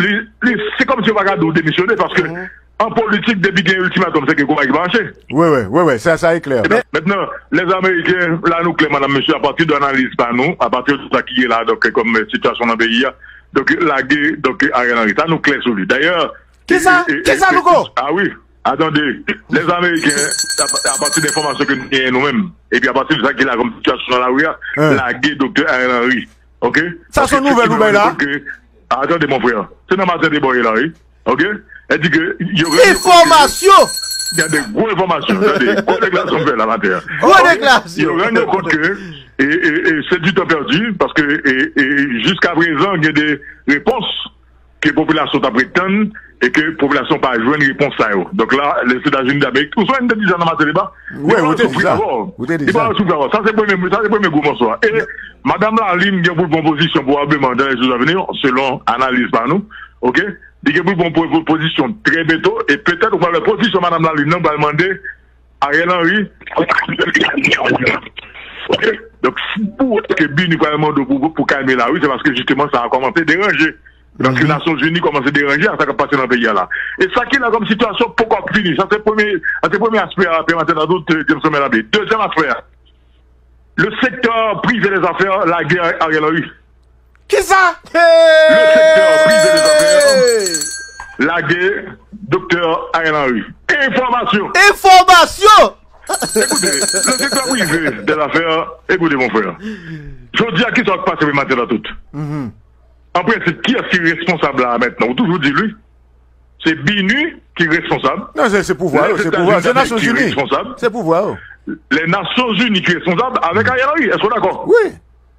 Se kòmsi yo pa ka di w demisyone paske an politik depi gen iltimatòm se ke konba ki mache. Wi, wi, wi, wi, sa e klè. Mentnan, lè ameriken, la nou klè madam mesye apati de analiz pa nou, apati de sa ki gen la donk kòm sitiyasyon nan peyi a, donk lage donk Ariel Henry. Sa nou klè sou li. Dayè, Kisa? Kisa Louko? A wi, a tande, lè ameriken apati de enfòmasyon ke nou genyen nou menm epi apati de sa ki la kòm sitiyasyon nan lari a, lage doktè Ariel Henry. ok sa son nouvel ou bay la ah tande mon frère se nan matin debat ye la wi ok el di ke yo renmen enfomasyon gen de gwo enfomasyon tande gwo deklarasyon m fè la matin an gwo deklarasyon yo rann yo kont ke e e e se du temps perdu paske e e jiska prezan gen de repons ke popilasyon tap ret tann e ke popilasyon pa jwenn repons sa yo donk la Lèzetazini Damerik ou sonje m te di sa nan Mateliba li pral soufri dabò li pral soufri dabò sa se premye sa se premye gwo mòso a e madam Lalim gen pou l pran pozisyon pwobableman dan lè jou zavni yo selon analiz pa nou ok li gen pou l pran pozisyon trè bento e petèt ou pral wè pozisyon madam Lalim nan pral mande Ariel Henry ap kite peyi a depi ane sa ok donk si ou wè ke bini pral mande w pou kalme la wi se paske jisteman sa kòmanse deranje paske nasyon zini kòmanse deranje a sa kap pase nan peyi a la e sa ki la kòm sitiyasyon poko ap fini sa se premye sa se premye aspè a pè maten dadou Jameson men abe dezyèm aspè a le sektè prive dezafè lage Ariel Henry. Kisa? Le sektè prive de zafè lage Doktè Ariel Henry. Enfòmasyon! Enfòmasyon! Ekoute, le sektè prive de zafè, ekoute mon frè, jodi a kisa w t pase pou maten nan tout? An prensip kiyès ki responsab la a mentnan? Ou toujou di l wi, se BINUH ki responsab, lè Etazini Damèrik ki responsab, lè Nasyonzini ki responsab avèk Ariel Henry. Èske w dakò? Wi.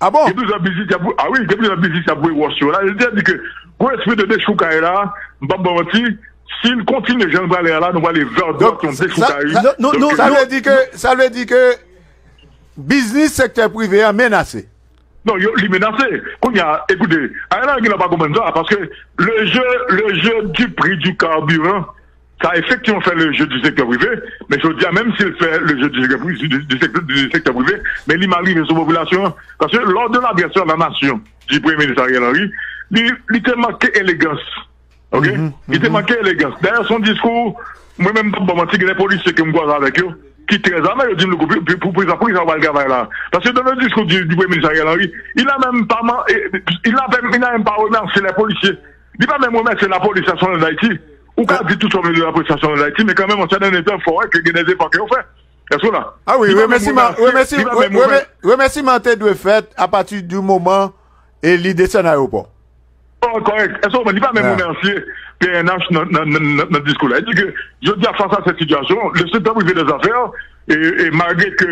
Ah bon? Gen plizyè biznis y ap voye, ah wi, gen plizyè biznis y ap voye wòch yo la. Yo deja di ke gwo espri de dechoukay la, m p ap ba w manti, si l kontinye jan l prale a la, nou prale vè dwat yon dechoukay. Sa vle di ke, sa vle di ke biznis sektè prive a menase? Non, yo, li menase. Kounye a, ekoute, ayè la yo gen lwa pa konprann sa, paske le jeu, le jeu du prix du carburant, Sa efektivman fè le jeu du secteur privé, men jodi a menm si l fè le jeu du secteur privé, men li mal rive sou popilasyon an. Paske lò de l'adresse a la nation di Premye Minis Ariel Henry, li te manke elegans. Ok? Li te manke elegans. Dayè son diskou, mwen menm m pap ba w manti, gen de polisye ke m kwaze avèk yo, ki trè zame, yo di m louko pou ki sa w pral travay la a? Paske dans le discours du Premye Minis Ariel Henry, il n'a menm pa remèsye lè polisye Li pa menm remèsye lapolis nasyonal Dayiti. Ou ka di tout sa w vle de lapolis nasyonal Dayiti men kanmenm an sèten etap fò wè ke gen dè efò ke yo fè. Èske w la? A wi, remèsiman, remèsiman, remèsiman te dwe fèt a pati di moman e li desann ayewopò. Kòrèk, kòrèk. Èske w konprann? Li pa menm remèsye pnh nan diskou la. Li di ke jodi a fas a sèt sitiyasyon, le seul temps privé des affaires e malgre ke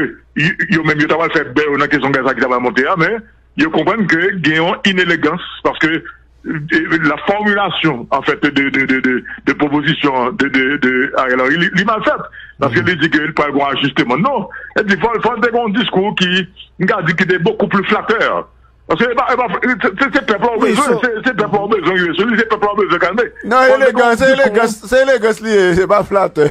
yo menm yo ta pral fè bè yo nan kesyon gaz la ki ta pral monte a men, Yo konprann ke gen yon inelegans paske la fòmilasyon an fèt de pwopozisyon de Ariel Henry li mal fèt. Paske li di ke li pral gen yon ajisteman. Non, e pi fòl te gen yon diskou ki m ka di ki te bokou pli flatè. Paske e pa se pèp la ou bezwen, se pèp la ou bezwen rive sou li, se pèp la ou bezwen kalme. Non, se elegans li ye, se pa flatè.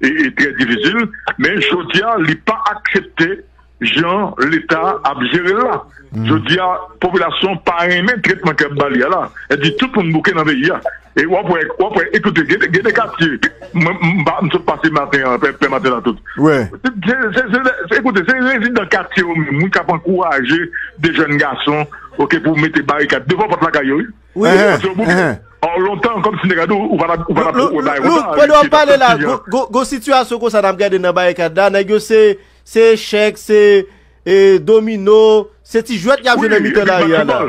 e trè difisil men jodi a li pa aksepte jan leta ap jere l la jodi a popilasyon pa renmen tretman ke y ap ba li a la e pi tout moun bouke nan peyi a e w ap wè w ap wè ekoute gen de katye mwen m pa m sot pase maten an pè pè maten la tout se ekoute se rezidan katye yo menm wi k ap ankouraje de jèn gason ok pou mete barikad devan pòt lakay yo wi. Wi. Or lontan kom si nèg la di w ou pa tap ou pa tap ou bay kontan. Look pandan wap pale la gon sitiyasyon konsa nap gade nan barikad la nèg yo se se echèk se e domino se ti jwèt yap jwe nan mitan lari a la.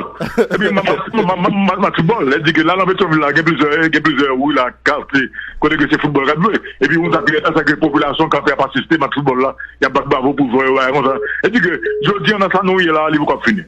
Epi map map map ti bòl lè di ke la nan petyonvil la gen plizyè gen plizyè ri la katye kote ke se foutbòl kap jwe epi ou sak e sak e popilasyon katye ap asiste match foutbòl la yap bat bravo pou jwè yo bagay konsa e di ke jodi an nan sa nou ye la li poko ap fini.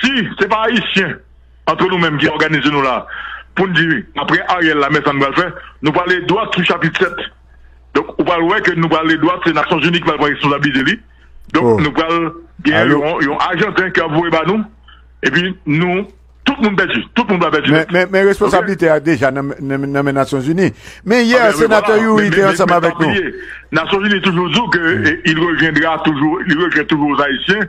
Si se pa ayisyen antre nou menm ki òganize nou la pou n di aprè Ariel la men sa n pral fè, nou prale dwat sou chapit 7. Donk ou pral wè ke nou prale dwat se Nasyonzini ki pral pran responsablite li. Donk nou pral gen yon ajanten ki ap voye ba nou epi nou tout moun pèdi, tout moun pral pèdi nèt. Men responsablite a deja nan men Nasyonzini. Men yè senatè Youri te ansanm avèk nou. Nasyonzini toujou di w ke il revyen toujou oz ayisyen.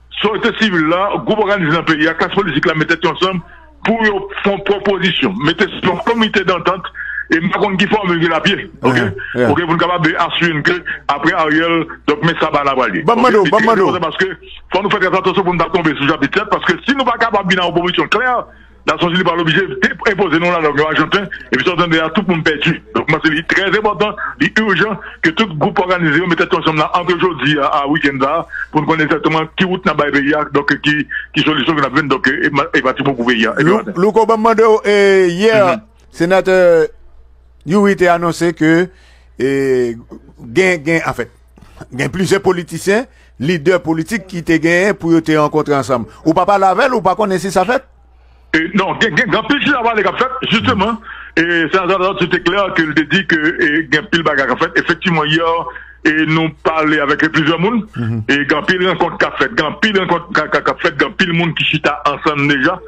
Sosyete sivil la, gwoup òganize nan peyi a, klas politik la met tèt yo ansanm pou yo fè yon pwopozisyon, mete sou yon komite dantant e m pa konn ki fòmil ki la pye ok ok pou n kapab asire n ke apre Ariel donk men sa bala pral ye ok li trè enpòtan paske fò nou fè trè atansyon pou nou pa tonbe sou chapit 7 paske si nou pa kapab vin a yon pwopozisyon klè Nason Zini pa loblije enpoze nou lalang yo ajanten, epi sa w tande a tout moun pèdi. Donk pou mwen se li trè enpòtan, li urjan ke tout gwoup òganize yo met tèt yo ansanm la antre jodi a a wikenn sa a pou n konnen egzakteman ki wout n ap bay peyi a, donk ki solisyon ki n ap jwenn donk e bati bon pou peyi a. Ebyen maten. Louko banm mande w e yè senatè Youri te anonse ke gen gen anfèt gen plizyè politisyen Lidè politik ki te genyen pou yo te rankontre ansanm. Ou pa pale avè l, ou pa konnen si sa fèt? Non, gen anpil chita pale k ap fèt. Jisteman, Senatè Latortue te klè ke l te di ke gen anpil bagay k ap fèt. Efektivman, yè nou pale avèk plizyè moun. Gen anpil rankont k ap fèt, gen anpil moun ki chita ansanm deja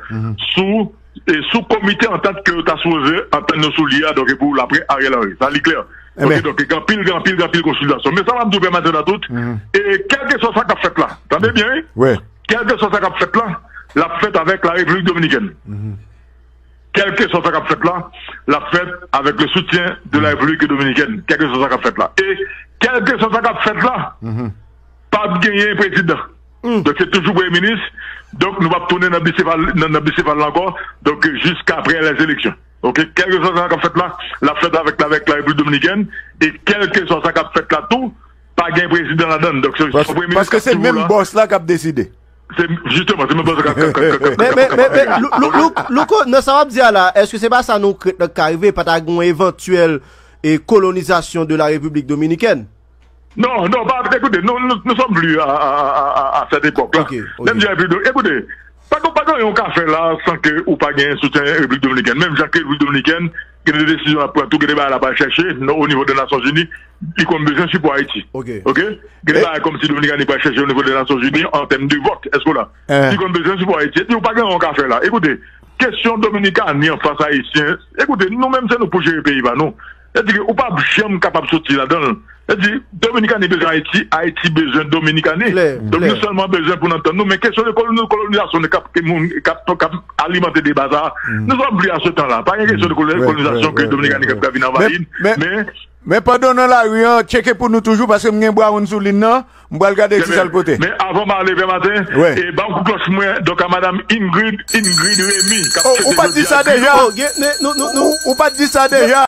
sou. E sou komite antant ke yo ta sipoze antann yo sou li a donk e pou lapre Ariel Henry. Sa li klè. Ok donk gen anpil gen anpil gen anpil konsiltasyon. Men sa m ap di w pè Madan Atout, e kèlkeswa sa k ap fèt la, tande byen wi, kèlkeswa sa k ap fèt la, l ap fèt avèk Larepiblik Dominikèn. Kèlkeswa sa k ap fèt la, l ap fèt avèk le soutyen de Larepiblik Dominikèn. Kèlkeswa sa k ap fèt la. E kèlkeswa sa k ap fèt la, p ap genyen prezidan. Donk se toujou premye minis, donk nou pap tounen nan bisefal nan bisefal la ankò, donk jiska aprè lè eleksyon ok kèlkeswa sa kap fèt la lap fèt avèk la avèk la repiblik dominikèn e kèlkeswa sa kap fèt la tou pa gen prezidan ladann donk se son premye minis kap toujou la bòs la kap deside se jisteman se menm bòs la kap men men men men lou lou louko nan sa wap di a la èske se pa sa nou krèt nan ka rive pa ta gen yon evantyèl e kolonizasyon de la repiblik dominikèn. Non, non, pa, ekoute, nou, nou, nou sòm pli a, a, a, a, a, a sèt epòk la. Ok, ok. Menm jan epi, ekoute, pa gen, pa gen yon ka fè la san ke ou pa gen soutyen Repiblik Dominikèn. Menm jan ke Repiblik Dominikèn gen de desizyon l ap pran tou, gen de bagay l ap al chèche nan onivo de Nasyonzini, li konn bezwen sipò Ayiti. Ok. Ok? Gen de bagay kòmsi Dominikani pral chèche onivo de Nasyonzini an tèm de vòt, èske w la? Eeh. Li konn bezwen sipò Ayiti. Epi ou pa gen yon ka fè la. Ekoute, kesyon Dominikani anfas Ayisyen, ekoute, nou menm se nou k pou jere peyi pa nou. Sètadi ke ou pap janm kapab soti ladanl. Sètadi, Dominikani bezwen Ayiti, Ayiti bezwen Dominikani. Donk nou sèlman bezwen pou n antann nou. Men kesyon de kolonizasyon de kap ke moun kap kap alimante deba sa a, nou sòt vle a se tan la. Pa gen kesyon de kolonizasyon ke Dominikani kap vin anvayi n. Men. Men pandan w nan lari an, tcheke pou nou toujou paske m gen Brown sou lin nan. M pral gade ki sa l pote. Men avan m ale Pè Maten, e banm kou klòch mwen donk a Madam Ingrid, Ingrid Remy kap fete jodi a. Ou pat di sa deja? Ou pat di sa deja?